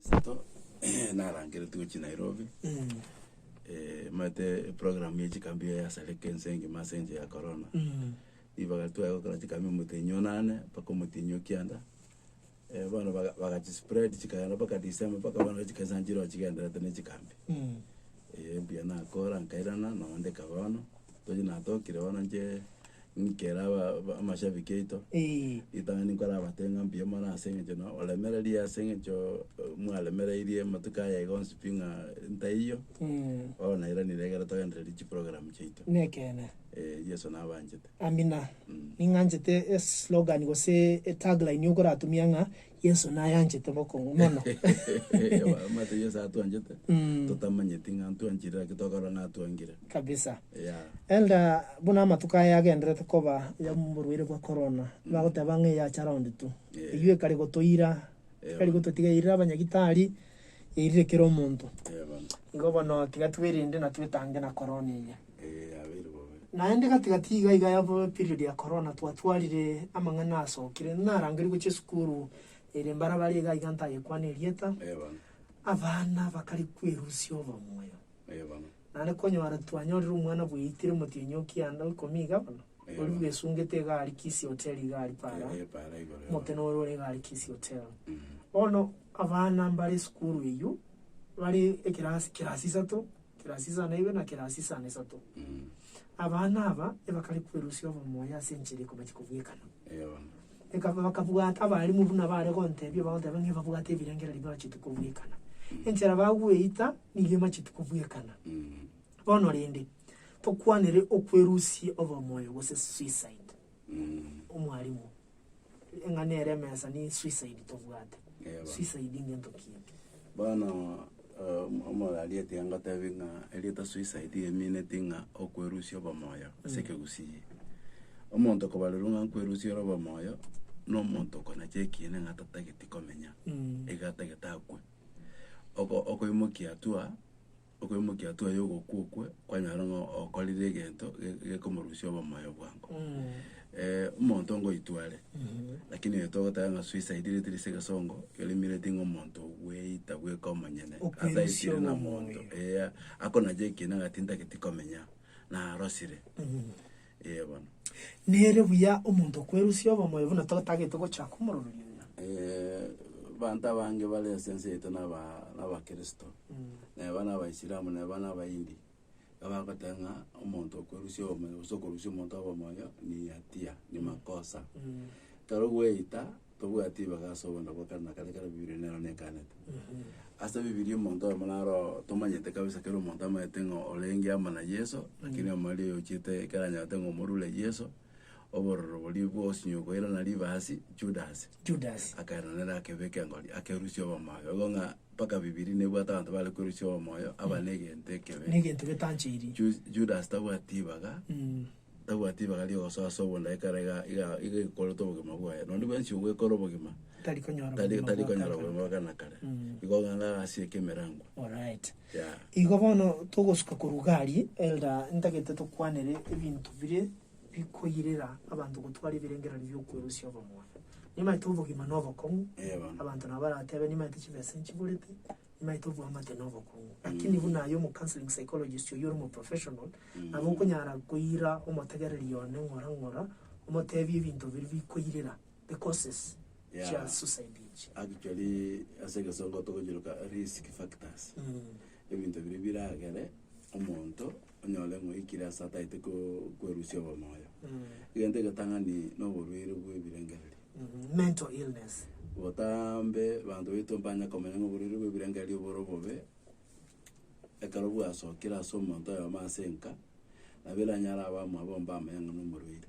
Sato narangeretigwe chinairobi maete eprogram ya chikambi eye yasareka ense engima ase enchera ya korona ribaga twaya gokora chikambi omotenyi o nane mpaka omotenyi o kianda bono baga bagachispread chikaenda mpaka december mpaka bono chikesa nchire ochigendererete na echikambi mbuya nakora nkairana nonde kaba bono tochia natokire bono nche Nkere aba- amashabiki aito, Eeh. ritang'ani nkorabatebie ng'a mbuya mono ase eng'encho na oremereria ase eng'encho mwaremereirie amatuko aya iga onsi pi ng'a ntaiyo, Mm. bono nairanire ekero togendereiri chiprogram chiaito. Nekeene. Eh, Yeso nabanchete. Amina. Mm. Ning'anchete eslogan gose etagline okoratumia ng'a Yeso nayanchete bokong'u mono. Omanyete Yeso atwanchete Mm. totamanyeti ng'a ntwanchire naki tokorora ng'a atwangire. Kabisa. Yeah. Enda buna amatuko aya agenderete koba y'oborwaire bwa korona, bagoteba ng'a eyacha round two. Yeah. Eyio ekare gotoira, Yeah, ekare bono. gototiga yairire abanyagitari, yairire kera omonto. Yeah, bono. Igo bono tiga twerende na twetange na korona eye. Naende gati-gati iga iga ya period ya korona twatwarire amang'ana asokire, narangeria gochia esukuru ere mbarabara iga iga ntagekwana erieta, abana bakare kwerusia obomoyo. Naende konyora twanyorire omwana bweitire motienyi o kianda o ikomi iga bono, oria bwesungete iga aria Kisii Hotel iga aria para, omokina oria ore iga aria Kisii Hotel. Bono abana mbare esukuru eyio, bare ekerasi kerasi isato, Kerasi isano na ibere na kerasi isano na isato. Mm. Abana aba ebakare kwerusia obomoyo ase enchera ekobachi kobwekana. Eh, bono. Eka- bakabwata abarimu buna bare gontebia bagonteba ng'a babwate ebirengererio bibachiete kobwekana enchera bagweita nigo emachiete kobwekana Mm. bono rende tokwanere okwerusia obomoyo gose suicide Mm. omwarimu Ng'a nere emesa ni suicide tobwate. Eh, bana. Suicide ingento ki? Bono eh, omo- omorwaria tiga ngotebi ng'a erieta suicide riamineti ng'a okwerusia obomoyo ase ekegusii. Omonto okobarerwa ng'a nkwerusia ore obomoyo, na omonto okonacha ekiina ng'a tatageti komenya, Mm. iga atagete akwe. Oko- okoimokia hatua Okoimokia twaye ogokwa okwe kwanyare ng'a okorire egento ge- gekomorusia obomoyo bwango. omonto ngoitwa are, lakini onye togoteba ng'a suicide riri ase egesongo, keri meaning ng'a omonto bweita bweka omonyene, Okwerusia ataisire na obomoyo. monto, eeh, akonacha ekiina ng'a tintageti komenya, narosire. Ee bono. Nere buya omonto okwerusia obomoyo buna totagete gocha komoroberia oyo. Ee, abanto abange bare ase ense yaito naba nabakristo, naye bare abaisilamu naye bare abaindi, abagoteba ng'a omonto okwerusia obomoyo gose okorusia omonto obomoyo ni hatia, ni makosa. Ekero gweita. Tobwati ebibaga ase obonda bwa kare na kare ekero Bibilia nero nekaanete. Ase Bibilia omonto oyomo naro oo tomanyete kabisa kero omonto amanyete ng'a orenge amo na Yeso, lakini omoriri oyo ochiete ekero anyarete ng'a omorure Yeso, obororo boria bwosinywe koirana riba asi, Judasi, Judas. akairana nere akebeka engori akerusia obomoyo. Igo ng'a mpaka Bibilia nebwate abanto bare kwerusia obomoyo, aba na egento ekebe. Negento getanchairi. Ju- Judas tabwati ribaga. Tabwati ribaga ri'ogosoa ase obonda ekero iga iga iga ekorete obogima bwaye. Nonya bwensi ogwekora obogima, Tari konyora tari obogima tari bwa konyora kare. obogima bwa kana kare. Mm. Igo ng'ana agasieke emerangwa. Alright. Yeah. Igo bono togosuka korwa iga aria, Elder, ntagete tokwanere ebinto bire bikoirera abanto gotwara ebirengererio bi'okwerusia obomuoyo. Nimaete obogima na obokong'u, Eh, bono. abanto nabo baratebe nimaete chibesa nchiborete, nimaete obwamate na obokong'u. Lakini buna aye omocounselling psychologist oyio ore omoprofessional, Nabo okonyara koira omotegereria one ng'ora ng'ora, omoteebie ebinto biria bikoirera, the causes Yeah. chia suicide echi. Actually, ase egesongo togochiroka risk factors. Mm. Ebinto biria biragere omonto onyore ng'a oikire ase ataete ko- kwerusia obomoyo. Mm. Egento egetang'ani na oborwaire bw'ebirengererio. Mhm. Mental illness. Botambe, banto baito mbanya komenya ng'a oborwaire bw'ebirengererio bore obobe ekero bwasokire ase omonto oyomo ase enka, nabo eranyare abe omwabo ombe amanyang'a na omorwaire.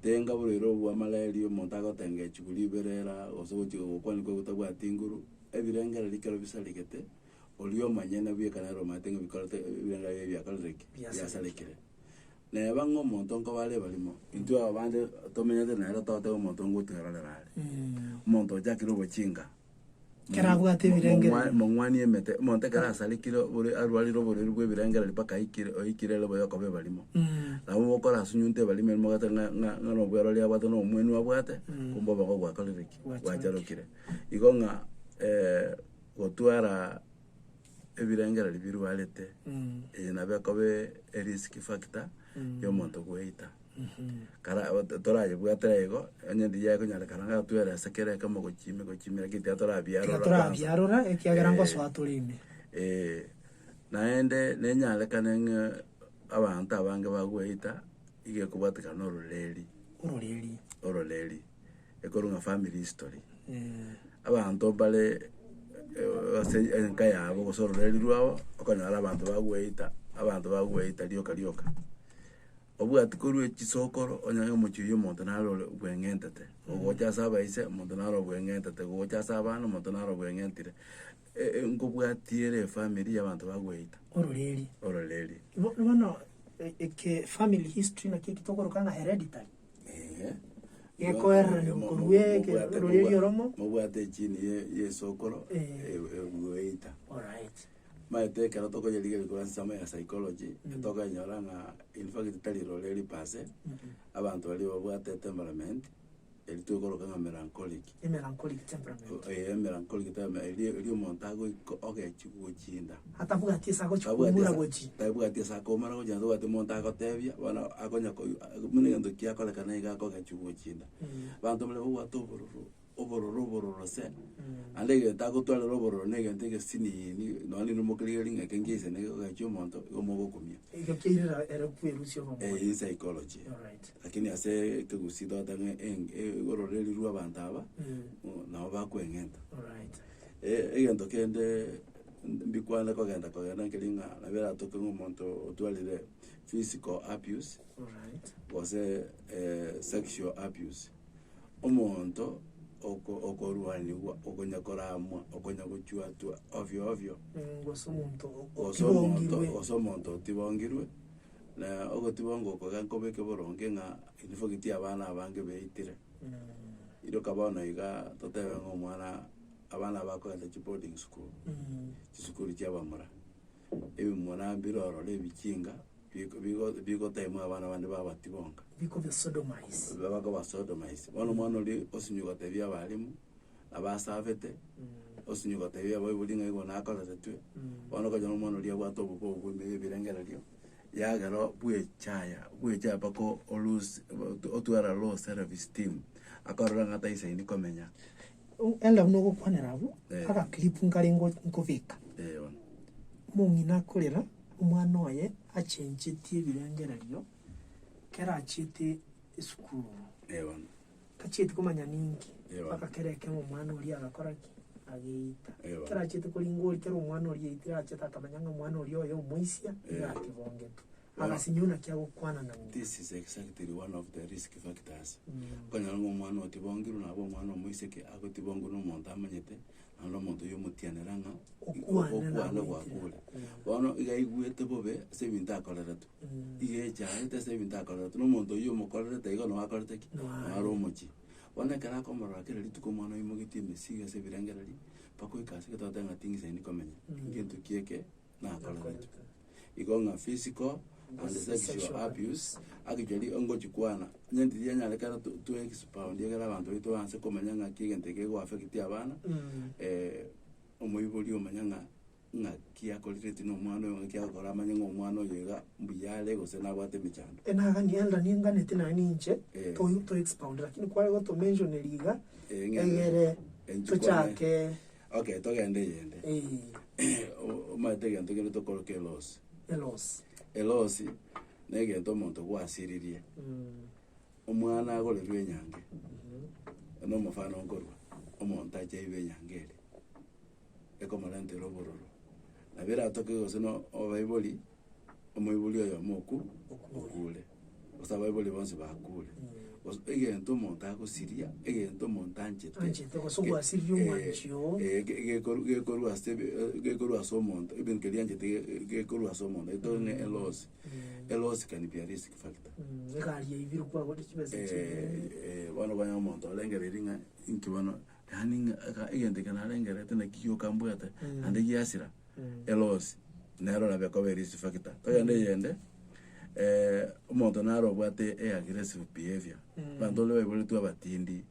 Tenga oborwaire obwo bwa malaria omonto agotenga echiko ribere era gose ogochi gokwana kogwo otabwati nguru, ebirengererio ekero bisaregete, oria omonyene bwe ekana ero omanyete ng'a bikorete ebirengererio ebi biakorire ki? Biasarekire. Biasarekire. Neba ng'a omonto nkobare barimo, intwe abande tomenyete nere totebe omonto ngotwerorera are, omonto ochakire obochinga. Kera abwate ebirengererio. Mong'wanie emete, omonto ekero asarekire obore- arwarire oborwaire bw'ebirengererio mpaka aikire, oikire ere boyo okoba ebarimo. Nabo bokora asunyunte ebarimo eria mogoteba ng'a- ng'a- ng'a na obwero oria abwate na omwenu abwate, kumbe oboke gwakorire ki? Gwacharokire. Gwacharokire. Igo ng'a gotwara ebirengererio birwarete, eye nabo ekobe erisk factor y'omonto gweita. kara- to- torayebwate aigo, onye endiya ekonyorekana ng'a twere ase kera ekemo gochimi gochimi lakini tiga torabiarora Tiga kwansa. torabiarora, ekiagera Eh, ngosoa tore ime. eh, naende nenyarekane ng'a abanto abange bagweita, iga ekobwatekana na ororeri, Ororeri. ororeri, ekorwa ng'a family history. Eh, Abanto mbare eh, ase enka yabo gose ororeri rwabo, okonyora abanto bagweita, abanto bagweita rioka rioka. Obwati korwa echisokoro onye omochie oyio omonto nare ore obweng'entete gogocha ase abaise, omonto nare obweng'entete gogocha ase abana, omonto nare obweng'entire e- e nkobwatia ere efamiri ya abanto bagweita. Ororeeria. Ororeeria. Bo- bono e- eke family history naki eki tokoroka ng'a hereditary. Eeh. Gekoererania Mo- mo- korwa eke mobwate- ororeeria mobwa- oromo. Mobwate echini ye- yesokoro Eh. e- e- bweita. Alright. Maete ekero tokoyerigeria korwa ase ensemo ya psychology, tokenyora ng'a in fact tari rore ripase, abanto baria babwate etemperament, eri twekoroka ng'a melancholic. Emelancholic temperament. Ee, emelancholic temper- eria eria omonto agoika ogechie gochinda. Atabwati ase agochia Tabwati koumora ase- gochia. tabwati ase akoumora gochia, naende tabwati omonto agotebia, bono akonya koi- buna egento kiakorekana iga akogechia gochinda. Abanto baria babwate obororo, Obororo, obororo se! Naende egento agotwarera obororo na egento egesiniini, nonya na inwe mokerigera ring'ake ngiya ise nigo egachia omonto, igo mogokumia. Ekio keirera ere kwerusia obomo. Eye in psychology. Alright. Lakini ase ekegusii togoteba ng'a eng- e- ebororo erirwe abanto aba, Mm. nabo bakweng'enta. Alright. E- egento kende mb- mbikwane kogenda kogenda nkeria ng'a nabo eratoke ng'a omonto otwarire physical abuse, Alright. gose sexual abuse. omonto oko- okoruanigwa, okonya koramwa, okonya gochuatwa ovyo ovyo, Mm, gose omonto o- gose omonto otibongirwe. gose omonto otibongirwe, na ogotibongwa oko genkobeke boronge ng'a in fact abana abange baitire. Mm. Iroka bono igaa totebe ng'a omwana abana aba bakorenta chiboarding school, Mm. chisukuru chia abamura. ebimura mbirorore ebichinga, biko bigo bigotaimwa abana bande babati bonka. Bikobasodomise. Bakobasodomise. Bono omwana oria osinyi gotebia abalimu, abasabete, osinyi gotebia abaibori ng'a igo nakoreretwe, bono okonyora omwana oria abwate obobe obwo bwa ebirengererio, yagera oo bwechaya, bwechaya mpaka o- o- loose, otware low self esteem, akarora ng'a taisaini komenya. Elda buna ogokwanera abwo, Eh. agaclip nkare ngo- nkobeka. Eh, bono. Omong'ina akorera, omwana oye achencheti ebirengererio, kera achiete esukuru. Eh, bono. Tachieti komanya ninki, Ewa. mpaka kera ekemo omwana oria agakora ki, ageita. Ewa. Kera achiete koringa ori, kera omwana oria aitire achete akamanya ng'a omwana oria oye omoisia, iga Ewa. akebongete. Agasinywa naki agokwana nao. This is exactly one of the risk factors. Okonyora ng'a omwana otibongirwe nabo omwana omoiseke agotibongwa na omonto amanyete, naende omonto oyio omotianera ng'a Okwana na okwana gwaku goetera. ore. Mm. Bono iga aigwete bobe ase ebinto akoreretwe. Mm. Iga echaete ase ebinto akoreretwe na omonto oyio omokorerete igo nao akorete ki? Nao Nao are are. omochie. Bono ekero akomorora kera rituko omwana oyio mogetie emesigo ase ebirengererio, mpaka oike ase gete ogoteeba ng'a tingisaini komenya. Mm. Ngento ki eke nakorerete, igo ng'a physical and sexual abuse, actually ongochi kwana, onye intiti yanyarekana to to expound egere abanto baito baanse komanya ng'aki egento eke geko affect abana, omoibori omanye ng'a ng'aki akorereti na omwana oyo, ng'aki agokora amanye ng'a omwana oyo iga mbuya are gose nabwate emechando. Naga ni elder ninganeti naye ninche, Eh. to to expound, lakini kware goto mention riga, Eng'encho- egere eng'encho kwane. tochake. Okay, togende eyende. O- Omanyete egento kende tokoroka elosi. Elosi. Elosi, na egento omonto gwasiririe. Omwana agorirwe enyangi, na omofano nkorwa, omonto acheirwe enyangi eria, ekomorentera obororo. Nabo eratoke gose no obaibori. omoibori oye omoku okuure, gose abaibori bonsi bakuure, gose egento omonto agosiria, egento omonto anchete. Anchete gose gwasiria omwanchi oo. Ee, ege- egekoru- gekorwa ase ebe gekorwa ase omonto, ebinto keria anchete ge- ge- gekorwa ase omonto, gete one eloss, eloss can be a risk factor. Egari yaibirwe kwagotire chibesa ching'ee. Eh, eh, bono okonyora omonto orengereiri ng'a inki bono Yaani ng'a egento eke narengerete naki gioka mbwate, naende giasira, elosi, nero nabo ekoba risk factor. Togende eyende, omonto nare obwate e aggressive behaviour, abanto baria baiboretwe abatindi,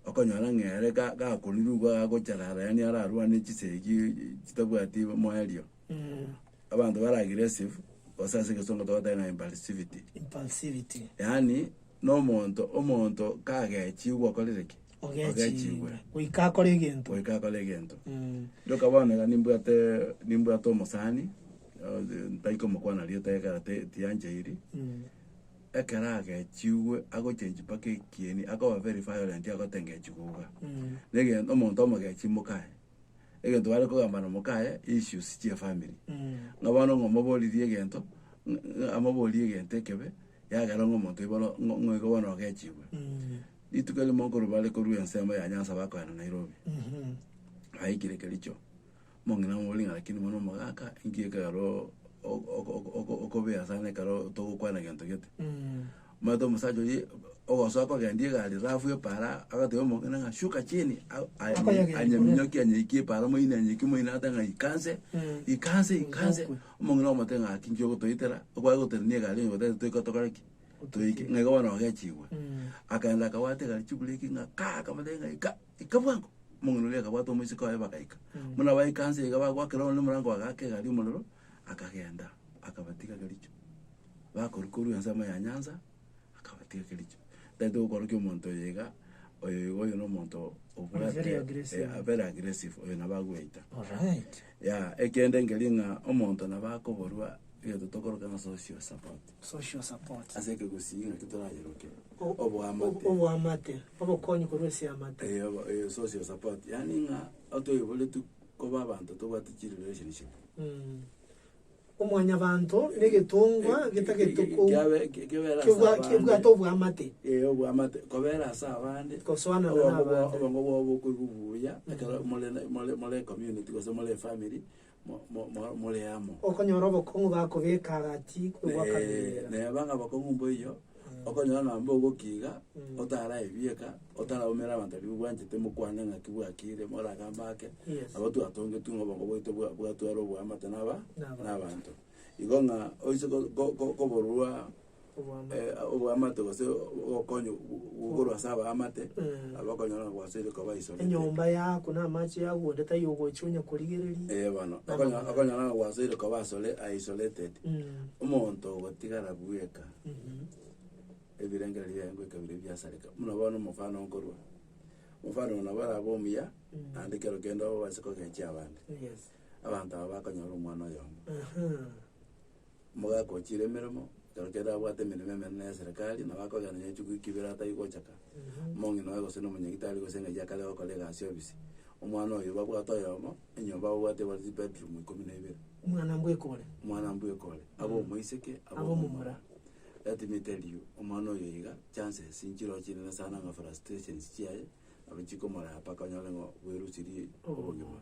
okonyora ng'a ere ga- gakorire igo agocherara yaani ararwane chisegi chitabwati moerio. Abanto bare aggressive, gose ase egesongo togoteba ng'a impulsivity, impulsivity, yaani na omonto, omonto kagechigwa okorire ki? ogechigwe goika akore egento. goika akore egento. Mm. Ndoka bono iga nimbwate nimbwate omosani, eh, ntari komokwana rieta ekero te- tiyancheiri, Mm. ekero agechigwe agochengi mpaka ekieni, akoba very violent agotengechi gouga. Mm. Negen- omonto omogechi mokae. egento bare kogamba nomokaye, issues chia efamiri. Ng'a bono ng'a omoboririe egento, ng- ng- amoborie egento ekebe, yagera ng'a omonto oyo bono ng'o- ng'oigo bono ogechigwe. Rituko erimo nkorwa bare korwa ensemo ya Nyanza bakoenda Nairobi, baikire Kericho, omong'ina amoborie ng'a rakini bono omogaka, inki ekeroo o- o- o- o- okobea sana ekero togokwana gento gete. Omanyete omosacha oria ogosoa kogendia egari rafu y'epaara agatebia omong'ina ng'a shuka chini a- a- Akoyegera anyeminyokie anyekie epaara moyini anyekie moyini agate ng'a ikanse Mm. ikanse ikanse Isokwe. omong'ina omote ng'a ki nki ogotoitera okware goterania egari onye gotari toika tokore ki toike ng'a iga bono ogechigwa Mm. akaenda akabwata egari chibureki ng'a kaa akamotebi ng'a ika ika bwango omong'ina oria akabwata omoiseke oye bagaika Mm. buna baikanse iga bagwakera one omorango bagaaka egari omorero akagenda, akabatiga Kericho. Bakorwa korwa ensemo ya nyansa, akabatiga Kericho. Tari togokorokia omonto oyo iga, oyo iga oyo na omonto obwate- Very aggressive. eh, very aggressive, oyo nabo agweita. Alright. Yaya, ekende nkeri ng'a omonto nabo akoborwa egento tokoroka ng'a social support. Social support. Ase ekegusii ng'aki torayeroke, O- oboamate. o- Oboamate, obokonyi korwa ase amate. Eh, obo- eh, social support, yaani ng'a otoiboretwe koba abanto tobwate chirelationship. Omwanyabanto negetongwa getagetwe ko- Kiabe- ki- kibera ase kebwa- abande. kebwate obwamate. Ee, obwamate kobera ase abande Gosoanana Obo- obo- n'abande. obongo bwao bokoigwa buya ekero more na- more more ecommunity gose more efamiri mo- mo- mo- more amo Okonyora obokong'u bakobeka agati kobwakabera. neba ng'a abakong'u mboiyo Okonyora ng'ambe ogokiiga, otaraebieka, otaraumera abanto baria bobwanchete, mokwane ng'aki bwakiire, moragambe ake, Yes. nabo twatongetwe ng'a obongo bwaito bwa- bwatware oboamate naba Nabanto. nabanto. Igo ng'a oise ko- ko- ko- koborwa Oboamate. eh, oboamate gose obokonyi gokorwa ase abaamate, Mm. aba okonyora ng'a gwasoire koba isolated. Enyomba yako na amache yako onde taiyo ogocha onya korigereria. Eh, bono, Nabo okonyora bono. okonyora ng'a gwasoire koba asole- isolated. Mm. Omonto ogotigara bweka, Ebirengererio biaye ngoika bire biasareka buna bono omofano nkorwa. Omofano oyo nabo arabe omuya, naende kero kende obase kogechia abande. Yes. Abanto aba bakonyora omwana oyomo. Aha. Omogaka ochire emeremo, kero kende abwate emeremo emenene ya serikali, nabo akogenda nonya echuku eke ibere atai gochaka. Omong'ina oye gose na omonyagitari gose engaki akare gokora egasi ofisi, omwana oyo babwate oyomo. Enyomba ababwate ebare chibedroom ikomi na ibere. Omwana mbwekore. Omwana mbwekore. Abe omoiseke, abe Abe omomura. omomura. Let me tell you, omwana oyo iga, chances nchirochio chinene sana ng'a frustrations chiaye, nabo chikomoraya mpaka onyore ng'a bwerusirie obogima.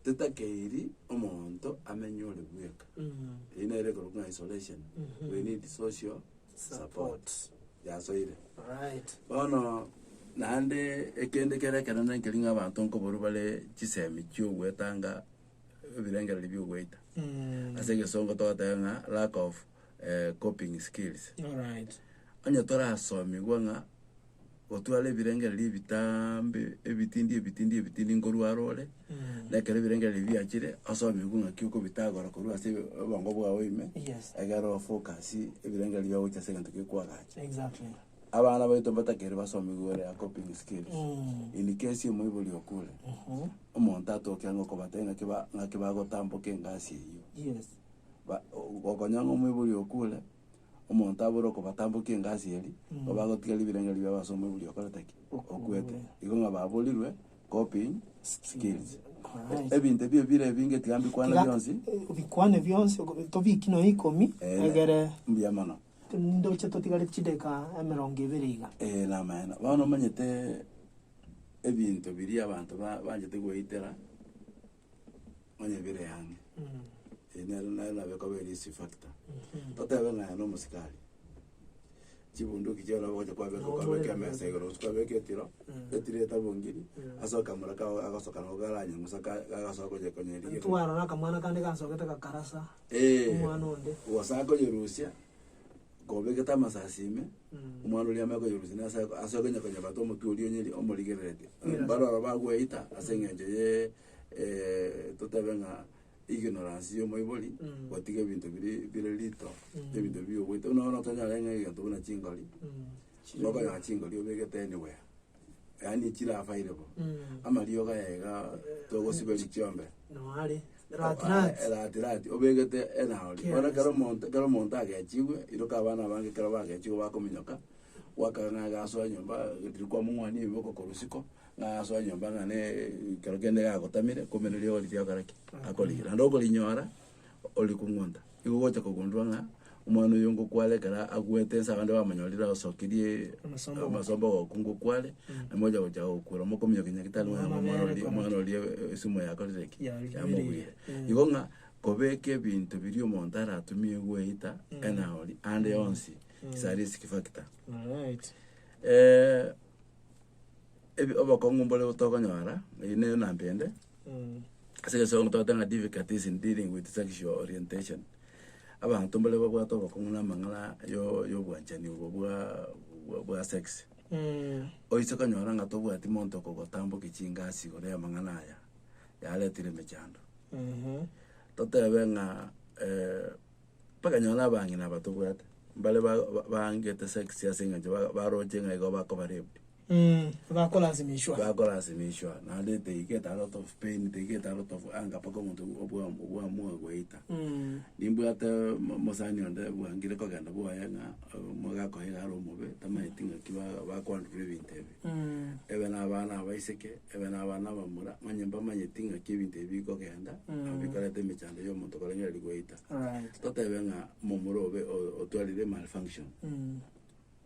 Titakeiri omonto amenye ore bweka. Eyio nere ekorokwa ng'a isolation. We need social. Support yasoire. Bono naende ekende kere ekenene nkeri ng'a abanto nkoborwa bare chisemi chiogoetanga ebirengereri biogoita. Ase egesongo togoteba ng'a lack of coping skills. Onye torasomigwe ng'a. Gotwara ebirengererio ebitaambe ebitindi ebitindi ebitindi nkorwa arore, na ekero ebirengererio biachire, osomerwe ng'aki okobitagora korwa ase obongo bwao ime, Yes. egere ofocus ebirengererio biao gochia ase egento gekoagacha. Exactly. Abana baito mbatakeire basomiwe ore a coping skills. Mm. In case omoibori okure, omonto atoke ang'e okobatebia ng'aki ba- ng'aki bagotamboka engasi eyio. Yes. Ba- o- okonyora ng'a omoibori okure. omonto abore okobatambokia engasi eria, nigo bagotiga ribirengerio biabo ase omoibori oria okorete ki? Okwete. Igo ng'a baborirwe copying skills. Alright. Ebinto ebio bire ebinge tiga mbikwane Tiga- bionsi. eh, obikwane bionsi ogo- tobiki nonya ikomi Eh, egere Mbuya mono. ndoche totigare chideka emerongo ebere iga Eh, namaene. Bono omanyete ebinto biria abanto ba- banchete goetera onye bire ang'e, eye nere naye nabe ekoba ere risk factor. Totebe ng'a aye na omosika aria, chibunduki chiao nabo ogocha kwabeka Nabo kwabeka mwereka. emesa igoro gose kwabeka etiro, Mm. etiro etabongiri, Mm. ase akamura kao agasoka nabo karanye ng'usa ka- kagasoka konya konya riria. Twarora akamwana kande gasogete gakarasa Eeh, omwana onde. ogosa koyerusia, Kobegete amasasi ime, omwana oria ame koyerusia na ase ase okonya konyebata omotwe oria onyeri omorigererete. Yes. Bare oro bagweita ase eng'encho ye eh, totebe ng'a ignorance ya omoibori, Mm. gotiga ebinto biri bire rito, Mm. ebinto biya ogoita. Buna bono otonyare ng'a egento buna chingori, Mm. Chire- ngokonyora chingori obegete anywhere. yaani chirafaire bo Mm. amariogo aye iga togosiberia chiombe Noare. Rati rati. rati rati obegete enaori Kera bono kero esana. omonto kero omonto agechigwe iroka abana abange kero bagechigwe bakominyoka gwakana ng'a agasoa nyomba riria kwamong'wania ebiboko korwa isiko ng'a agasoa nyomba ng'a ne ekero kende gagotamire kumbe ne rirogo riria agokora ki akorira naende okorinyora. ore kong'wonta, igo ogocha kogundua ng'a omwana oyo ngokware ekero agwete ense abande bamonyorire asokirie Amasomba goka. amasomba goku ngokware, namocha gocha gokwera mokominyokia nyagetari ng'a Omwana omwana oria omwana oria esimo yakorire ki? Yamogwire. Yamogwire. Mm. Igo ng'a kobeka ebinto biria omonto aratumie gweita enaoni ande yonsi is a risk factor. Alright. ebi- obokong'u mbore tokonyora, eyio ne namba ende. Ase egesomo togoteba ng'a difficulties in dealing with sexual orientation, abanto mbare babwate obokong'u na amang'ana yo- yobwanchani obo bwa- bwa- bwa sex. Oise konyora ng'a tobwati monto okogotambokia chingasi igoro y'amang'ana aya, yaretire emechando. Totebe ng'a mpaka nonye abang'ina aba tobwate, mbare ba- ba- baangete sex ase eng'encho ba- baroche ng'a igo bakoba raped. Mh, bakorasimishwa. bakorasimishwa, naende etake a lot of pain, etake a lot of anger, mpaka omonto obwa- obwamua goita. Mh, Nimbwate mo- mosani onde bwangire kogenda bwoye ng'a omo gakoiga are omobe, tamanyeti ng'aki ba- bakwanderwa ebinto ebi. mh, Ebe na abana abaiseke, ebe na abana abamura, onye mbamanyeti ng'aki ebinto ebi bikogenda, nabo bikoreta emechando ya omonto korengereria goita. alright. Totebe ng'a momura obe o- otwarire malfunction. Mh,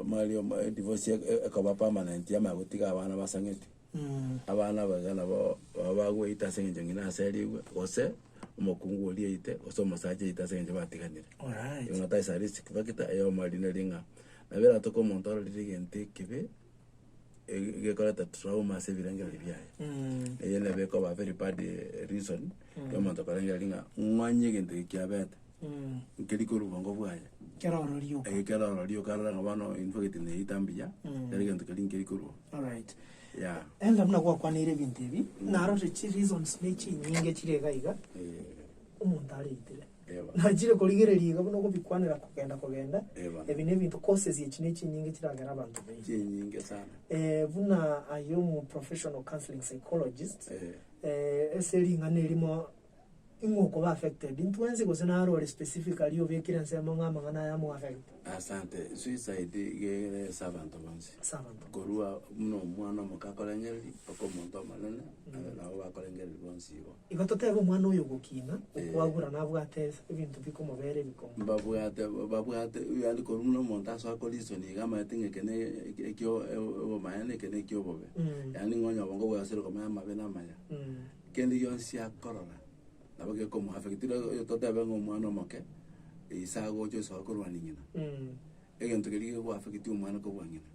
Amari omo edivorce ekoba permanent yama ya gotiga abana basang'eti. Abana aba iga nabo baba bagweita ase eng'encho ng'ina ase erigwe, gose omokungu oria aite, gose omosacha aite ase eng'encho batiganire. Alright. Igo that is a risk factor eye omari neri ng'a nabo eratoke omonto arorire egento ekibe, ege- egekoreta trauma ase ebirengereri biaye. Eye nabo ekoba very bad reason, ya omonto korengereria ng'a ng'o onye egento eke kiabete. nkeri korwa obongo bwaye, Kero orori oka. eh, kero orori oka, arora ng'a bono infageti neyeita mbuya, kera egento keria nkeri korwa. Alright. Yeah. Enda buna gwakwaniire ebinto ebi, narorire chi reasons ne chinyinge chire iga iga Eh, omonto areitire. Eba. Nachire korigereria iga buna okobikwanera kogenda kogenda, Eba. ebi nebinto causes echi ne chinyinge chiragera abanto baino. chinyinge sana. Eh, buna aye omu professional counseling psychologist, Eh, eh, ase ring'ana erimo ing'o okoba affected intwe ense gose naro ore specifically obekire ensemo ng'a amang'ana aya amo affect Asante. Suicide iga ere ase abanto bonsi. ase abanto Korwa buna omwana omoke akorengereria, mpaka omonto omonene, aye nabo bakorengereria bonsi igo. Igo totebe omwana oyo ogokina, okwagura nabwate ebinto bikomobera ebikomo. Mbabwate babwate yaani korwa buna omonto asoa ko reason iga amanyete ng'a eke ne ekio obomaene eke ne ekio obobe. Yaani ng'a onye obongo bwaye ase rirokomio amabe na amaya. Kende gionsi akorora nabo gekomoafectiri, oyo totebe ng'a omwana omoke ise agocha osoa korwania nyina, Mm. egento keria gegoafecti omwana kobua ng'ina.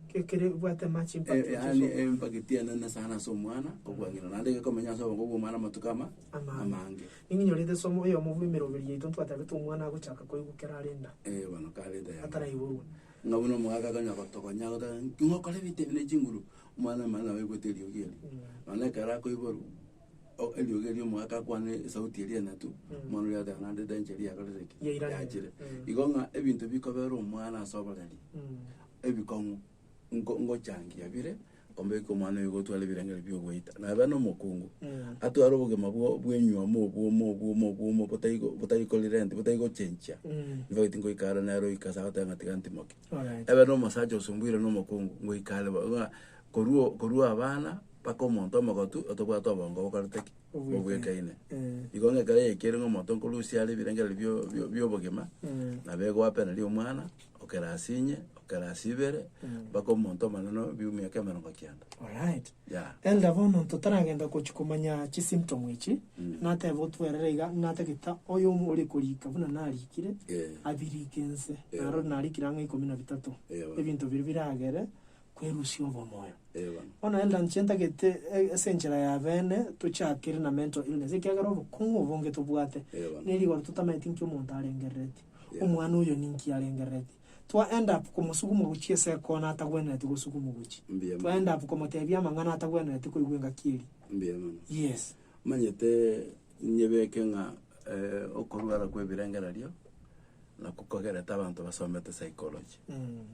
Ke- Kere bwate much impact Eh, which is yaani over. empageti enene sana ase omwana kobua ng'ina, naende gekomenya ase obongo bwa omwana amatuko ama Amang'e. amange. Ninki nyorete esomo eyomo bwa emeroberi yaito ntwatabete omwana agochaka koigwa ekero are enda Eh, bono kareta yane. ataraiborwa. Ng'a buna omogaka akanya gotogonya, agoteba, ng'okore ebite ebi ne chinguru, Omwana omonyene nabo aigwete eriogi erio, nonya ekero akoiborwa o- eriogi erio omogaka akwane esauti eria enyato, omwana oria agateba naende edanger eria yakorire ki? Yairana. Yachire. Igo ng'a ebinto bikobera omwana ase oboreri, ebikong'u nko- ngochangia bire, kombeka omwana oyo gotwara ebirengererio bia ogoita. Nabe na omokungu, atware obogima bwo- bwenywoma obwomo obwomo obwomo botari go- botari korelent botari gochenchia, nigo eti ngoika are nere oika ase agoteba ng'a tiga ntimoke. Ebe nomosacha osomboirwe nomokungu, ngoika are bo, ng'a korwa o- korwa abana mpaka omonto omogotu, otobwate obongo bokorete ki? Bobwekaine. Igo ng'a ekero yaikire ng'a omonto nkorusia are ebirengereri bio- bio- biobogima, nabo egoapeneria omwana, okera ase inye, okera ase ibere, mpaka omonto omonene obi omiaka emerongo kenda. Yeah. Elder bono ntotaragenda gochi komanya chi symptom echi nateba otwerere iga ng'a tagete oyo omo ore korika buna narikire Eh. abirike ense Eh. naro narikire ang'e ikomi na bitato Eh, bana. ebinto biria biragere kwerusia obomoyo Eh, bana. bono elder nche ntagete e- ase enchera ya bene tochakere na mental illness ekiagera obokong'u obonge tobwate Eh, bana. nerigoro totameti nki omonto arengerereti Yeah. omwana oyo ninki arengerereti Twa end up komosuguma gochia ase ekona atagwenereti gosugumu gochi. Mbuya Twa end up komotebia amang'ana atagwenereti koigwa engaki eria. Mbuya mono. Yes. Manyete nyebeke ng'a eh, okorwara kwa ebirengererio nako kogerete abanto basomete psychology. Mm.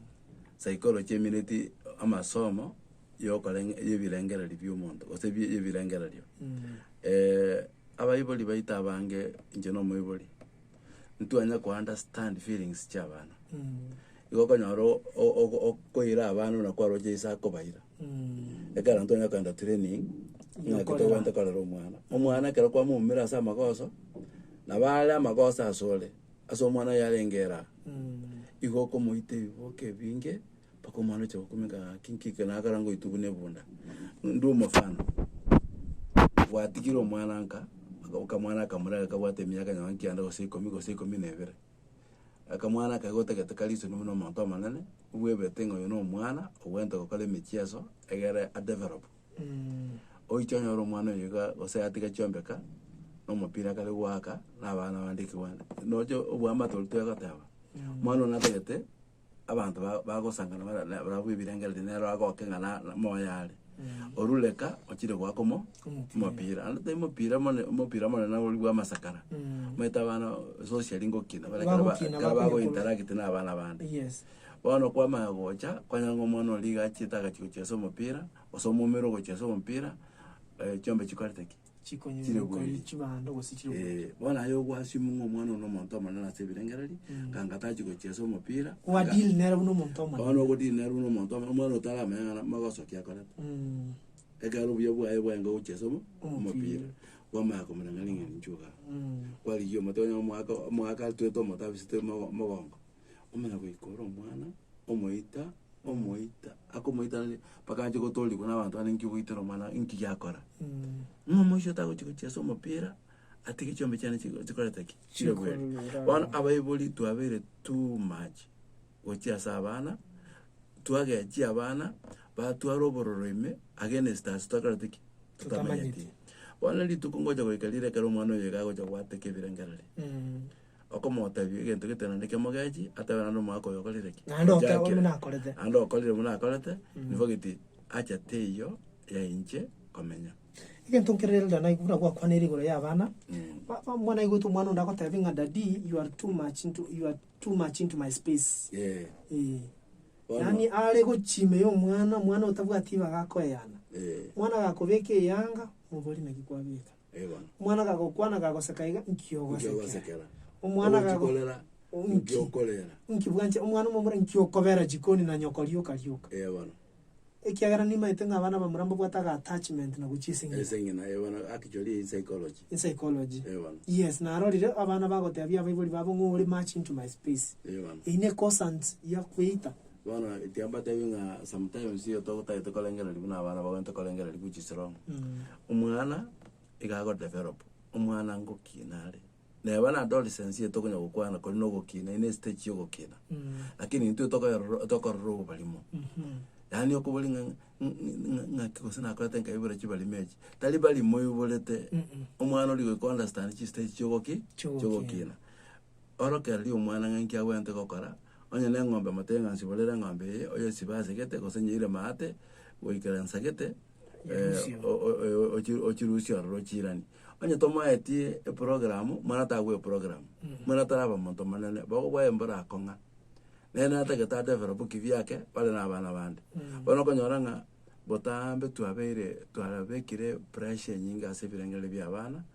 Psychology emineti amasomo yokorenge y'ebirengereri bi'omonto gose bi- y'ebirengererio. Mm. Eh, abaibori baito abange inche na omoibori, ntitwanya kounderstand feelings chia abana. Igo okonyora o- o- o- okoira abana buna kwaroche ase akobaira. Ekero intwe twanyara kogenda training, ng'aki Gokorera. togwenerete korera omwana. Omwana ekero kwamoumire ase amagoso, nabo are amagoso asore, ase omwana oyo arenge eraa. Igo okomoita ebiboke ebinge, Mpaka omwana ocha gokumeka ng'a ki nki eke, nagakora ngoitwe buna ebunda. Ndue omofano, gwatigire omwana nka, akamwana akamorera kabwate emiaka nyoma nkianda gose ikomi gose ikomi na ebere, akamwana aka gotagete karisorwa buna omonto omonene, bwebete ng'a oyo na omwana obwenerete gokora emechieso egere a develop. Oiche onyore omwana oyo iga gose atiga chiombeka, na omopira kare goaka, na abana bande ekebwana. Nonya oboamate oria tore goteba, omwana oyo natagete. abanto ba- bagosangana bara- na- barabwo bw'ebirengererio nero agoke ng'a na- na- moyo are. Orure ka, ochire goaka omo- Omopira. omopira. Naende tari mopira mone- mopira monene oria bwa amasakara. Mm. Omanyete abana socially ngokina, bare ekero ba- Bagokina, ekero bakonya korwa- bagointeract na abana bande. Yes. Bono kwamanya gocha, kwanya ng'a omwana oria iga achiete agachi gochia ase omopira, gose omomura ogochia ase omopira, eh, chiombe chikwarete ki? Chikonyora okori chibando gose chire oboronge. Ee, bono aye ogwasimi ng'a omwana one nomonto omonene ase ebirengererio, ng'a anga tachi gochiesa omopira. Kwa anga- deal nere buna omonto omonene. Bono ogodeal nere buna omonto omonene, omwana otaramanya ng'a namo ogosoki akorete. Mm. Ekero obuya bwaye bwaenga gochiesa omo- Omopira. omopira, kwamanya komorangeria ng'a ninchuo igaa. Mm. Kwarigia omote onye omogaka, omogaka atwete omote abisete omo- omogongo. omonyagoika ore omwana, omoita, omoita, akomoita aria mpaka ache gotoorigwa na abanto bande nki ogoitera omwana oye, nki giakora. Ng'a omoiseke tagochi gochia ase omopira, atige chiombe chiane chigo- chikoreta ki? Chirebuere. Chikorera. Bono abaibori twabeire too much gochia ase abana, twagechia abana, batwara obororo ime, against us tokorete ki? Totamanyeti. Totamanyeti. Bono rituko ngocha goika rire ekero omwana oyo iga agocha goateka ebirengererio. okomotebia egento gete naende ekio mogechi, atebe naende omwaka oyo okorire ki? Naende Ocha otebe buna akere. akorete. Naende okorire buna akorete, nigo geti acha teiyo ya inche komenya. Egento nkererende naigwe buna gwakwanire igoro y'abana, ba- ba- muna aigwete omwana onde agotebia ng'a daddy you are too much into, you are too much into my space. Eh, Eh. Bono. Yaani are gochia ime ya omwana, omwana otabwati ibaga akoeyana. eh. Omwana agakobeka eyanga, mobori naki kwabeka. Yebo. Omwana akagokwana akagoseka iga, Nki ogosekera? Nkiogosekera. Omwana akago- Ogochikorera. O- nki? Nkiokorera. Nki bwanche omwana omomura nki okobera jikoni na nyoko rioka rioka? Yebo bono. Ekiagera nimaete ng'a abana abamura mbabwate aga attachment na gochia ase eng'ina. Ase eng'ina, yebo bono, actually in psychology. In psychology. Yebo bono. Yes, narorire abana bagotebia abaibori babo ng'a ore much into my space. Yebo bono. Eyio ne consent ya kweita. Bono tiambatebi ng'a sometimes iyo togotagete korengereria buna abana bagwenerete korengereria gochia strong. Omwana iga agodevelop, omwana ngokina are. Neba na adolescence eye tokonya gokwana kori na ogokina, ere ne stage ya ogokina. Lakini intwe tokoyerora tokorora oborimo. Yaani okobori ng'a ng'a ng'aki gose nakorete nkaibora chibarimo echi. Tari barimo oiborete, omwana ori goika o understand chistage chi'ogoki? Chi'ogokina. Chi'ogokina. Orokereri omwana ng'a inki agwenerete gokora. Onye neng'ombe motebi ng'a nsiborere eng'ombe eye, oyesibe asegete gose nyeire maate goikera nsagete, Nyerusie eh, o- o- o- ochi- ochirusie ororo ochiiranie. Onye tomoetie eprogramu, mwana tagwe eprogramu, mwana taraba omonto omonene, bobe bwaye mbora akong'a, nere natagete adevelope ki biake bare nabana bande. Bono okonyora ng'a botambe twabeire twarabekire pressure enyinge ase ebirengererio bia abana,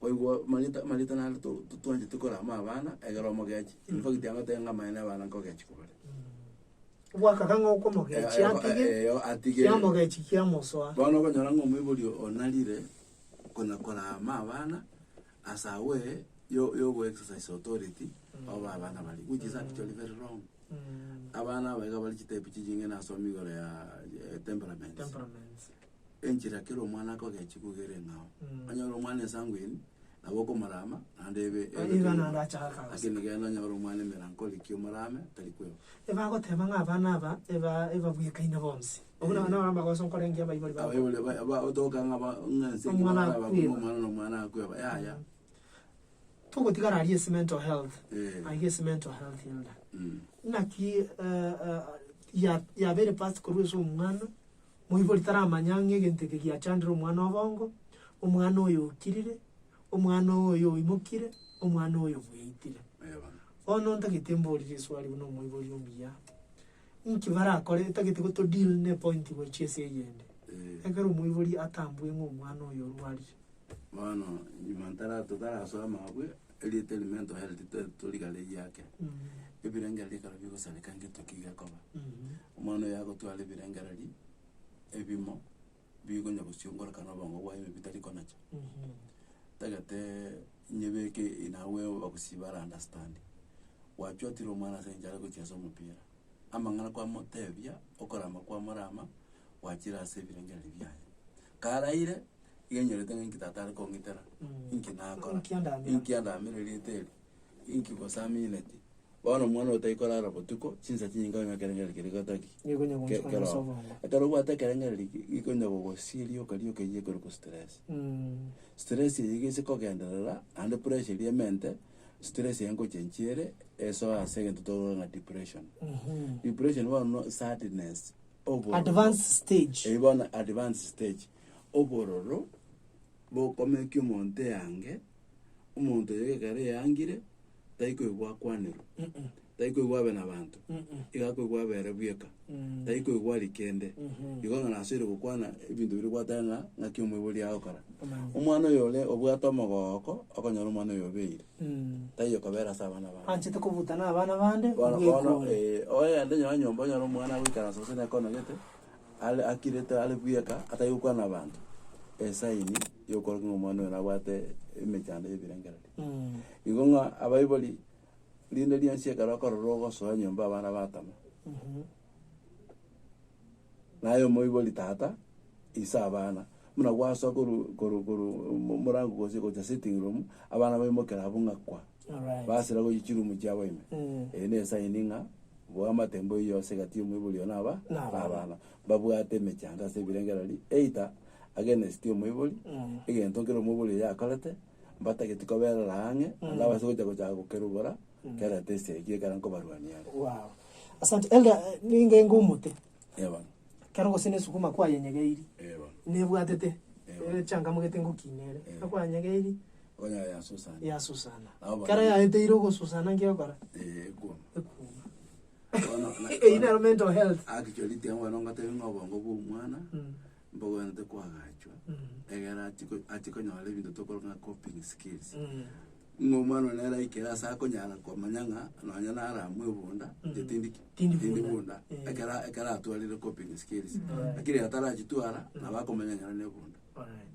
Oigwa Marita, Marita naende to- to- twancheti korama abana, egere omogechi. In fact agoteba ng'a amaene abana nkogechi kobare. Bwakaka ng'a okomogechi Eh, eh, atige, eh, eh, atige. kiamogechi kiamosoa. Bono okonyora ng'a omoibori oyo onarire konya korama abana ase agwo eye yo- yogo exercise authority oba abana baria, which is actually very wrong. Mm. Abana aba iga bare chitebi chichingi nasomire igoro ya eh, temperaments. Temperaments. enchera kera omwana akogechia kogera eng'ao. Mm. Onye ore omwana esangweini, nabo okomorama, naende ebe- Aye ebe iga naende kegima. achaka kabisa. Lakini genda onye ore omwana emerankori ki omorame, tari kwegwa. Ebagoteba ng'a abana aba eba- ebabwekaine bonsi. Obwo nabo Eh. naro amagoso nkorengia abaibori bakwa. Abaibori ba- ba- bagotoka ng'a ba- ng'a ense engima Omwana barabakwa akweba. ng'a omwana na omwana akweba, yaya. Togotigara aria ase mental health, Eh. aiga ase mental health enda. Mm. Naki eh, eh, ya- yabeire past korwa ase omwana, Moibori taramanya ng'a egento eke giachandire omwana o bongo, omwana oyo okirire, omwana oyo oimokire, omwana oyo obweitire. Eeh bono. Bono ntagete mborire eswali buna omoibori omuya, inki barakore etagete gotodeal ne point gochia ase eyende. Eeh. Ekero omoibori atambue ng'a omwana oyo orwarire. Bono nyuma ntara totarasoa mabwe. erieta erimo entoereti tari torigare eyio ake, ebirenge ebi ekero bigosareka ng'etu ki gekoba. Omwana oyo agotwara ebirengereri ebimo bigonya gosiongoreka na obongo bwaye ime bitari konacha. Tageteee nyebeke in a way obogosi bara understand. Gwachotire omwana ase enchara gochia ase omopira, amang'ana kwamoteebia, okorama kwamo rama, gwachire ase ebirengererio biaye. Karaire, iga nyorete ng'a inki tata are kong'itera, inki nakora, Inki andamera. inki andamera erieta eri, inki gose amineti. Bono omwana otari korara botuko, chinsa chinyinge onye ekerengererio keria gotaki Nigo ke- ekonya gocha ase keroo. obongo. Ekero obwate ekerengererio eke, gekonya gogosia rioka rioka eywo ekorokwa stress. Mm. Stress eywo iga ase kogenderera, naende pressure eria emente. Stress eye ngocha nchiere esoe ase egento tokoroka ng'a depression. Depression bono no sadness, obororo. Advanced stage. Eyi bono advanced stage. Obororo bokomekia omonto eange, omonto oyo ekero eangire, taikoigwa akwanerwa. tari koigwa abe nabanto iga akoigwa abe ere bweka tari koigwa aria kende igo ng'a nasoire gokwana ebinto biria gwateba ng'a ng'aki omoibori agokora omwana oyo ore obwate omogooko okonyora omwana oyo obeire taiyo kobera ase abana babo Anchete kobuta na abana bande Bono bono bwekure. eh, oende nonye nyomba onyore omwana agoikaransa gose nekonogete are akirete are bweka atari gokwana na abanto esaini yokorokia ng'a omwana oyo nabwate emechando ya ebirengererio igo ng'a abaibori Rinde rianchia ekero okorora ogosoa nyomba abana batama. Naye omoibori tata ise abana buna gwasoa koru koru koru mo- morango gose gocha sitting room abana baimokera abwo ng'a kwa. Alright. Basira gochia chiroom chiabo ime. Mm. Eye ne sign ng'a bwamate mbwa eyio ase egati y'omoibori oyo naba Na abana. abana. Mbabwate emechando ase ebirengereri either against omoibori, egento kere omoibori oyo akorete, mbatageti koberora ang'e, naende abase gocha gochaka gokerubora, kera etesi yaikire ekero nkobarwania are. Wow. Asante. Elder, eh, ningenge omote. Eh, bono. Ekero gose ne esuguma kwayenyegeiri, Eh, bono. nebwatete Ewa. echangamu gete ngokina ere. Ekero kwayenyegeiri, Onya yasusana. yasusana. Abo bana- Ekero yaeteire ogosusana nki egokora? Eh, ekuoma. Ekuuma. Bono, na- Eyio nero mental health. Actually, tiambono ngotebi ng'a obongo bw'omwana, Mm. mbogwenerete koagachwa, egere achi ko- achi konyora ebinto tokoro ng'a coping skills. Ng'a omwana one nere aikere ase akonyara komanya ng'a nonye nara mwebunda, inche tindi ki? Tindi Tindi bunda. bunda. Eh. Ekera- ekero atwarire coping skills. Lakini ekero atarachitwara, nabo akomanya ng'a ere nebunda. Alright.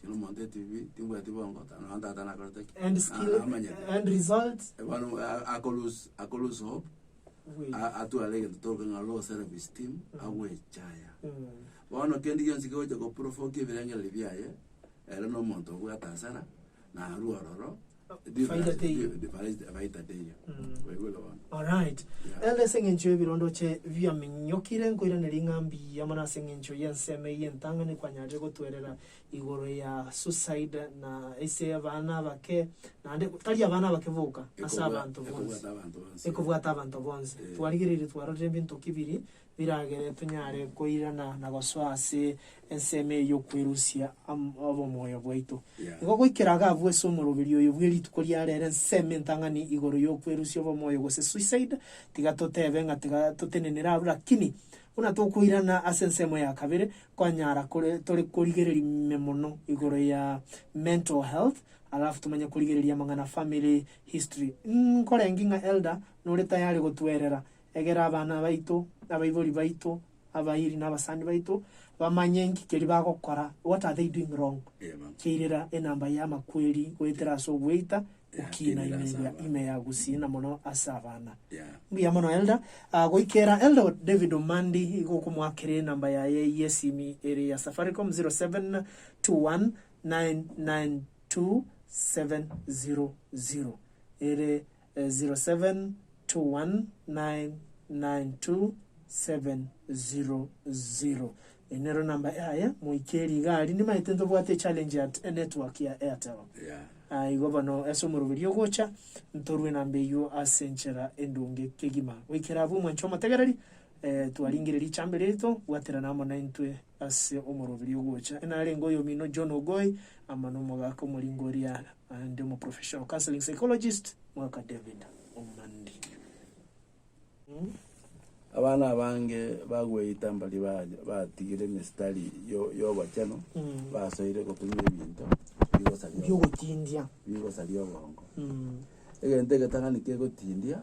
Kera omonto etibi timbwati bongo ta- nonya tata nakorete ki? End Na- skill, namanyete. end result. Bono a- ako lose- ako lose hope, Wait. a- atware egento toruge ng'a low self esteem, agwechaya. Mm. Bono kende gionsi kegocha goprovoki ebirengererio biaye, ere na omonto obwate hasara, narue ororo, Faida teiyo. Faida teiyo. Waigure bono. Alright. Yeah. Elda ase eng'encho y'ebirondoche biaminyokire nkoiraneria ng'a mbuya mono ase eng'encho y'ensemo eye entang'ani kwanyareire gotwerera igoro ya suicide na ase abana abake naende tari abana abake boka ase Ekobwa- abanto bonsi ekobwata abanto bonsi ekobwata abanto bonsi Eh. twarigereire twarorire ebinto ki biri Biragere tonyare koirana na gosoa ase ensemo eye y'okwerusia obomoyo bwaito. Igo goikera agabua ase omoroberio oyo bwe rituko ria rero ensemo entang'ani igoro y'okwerusia obomoyo gose suicide, tiga totebe ng'a tiga totenenere aroro rakini buna tokoirana ase ensemo ya kabere, kwanyara kore tore korigereria ime mono igoro ya mental health, alafu tomanye korigereria amang'ana family history. Nkorenge ng'a Elder nore tayari gotuerera Egera abana baito, na abaibori baito, abairi, na abasani baito bamanye inki keria bagokora, what are they doing wrong, kiairera enamba y'amakweri goetera ase ogweita gokiina ime eria ime ya gusii na mono ase abana. Mbuya mono Elder. Ah, goikera Elder David Omandi igo okomoakera enamba yaye y'esimi ere ya Safaricom, 0721992700. Ere 0721992700 Eyi nero enamba yaye moike rigari nimaete ntobwate echallenge ya enetwork ya Airtel Yeah. igo bono ase omoroberio ogocha ntorwe enamba eyio ase enchera endonge kegima goikera abwo omwancha omotegereri Twaringereria chambere eto, bwaterana amo naintwe ase omoroberio ogocha. Narenge oyomino John Ogoi, amo nomogaka omoringo oria aande omo professional counseling psychologist Mwaka David Omandi. Abana abange bagweita mbaria baria batigire emistari y'obochenu, basoire gotumia ebinto bigosaria oboongo. Egento egetang'ani kegotindia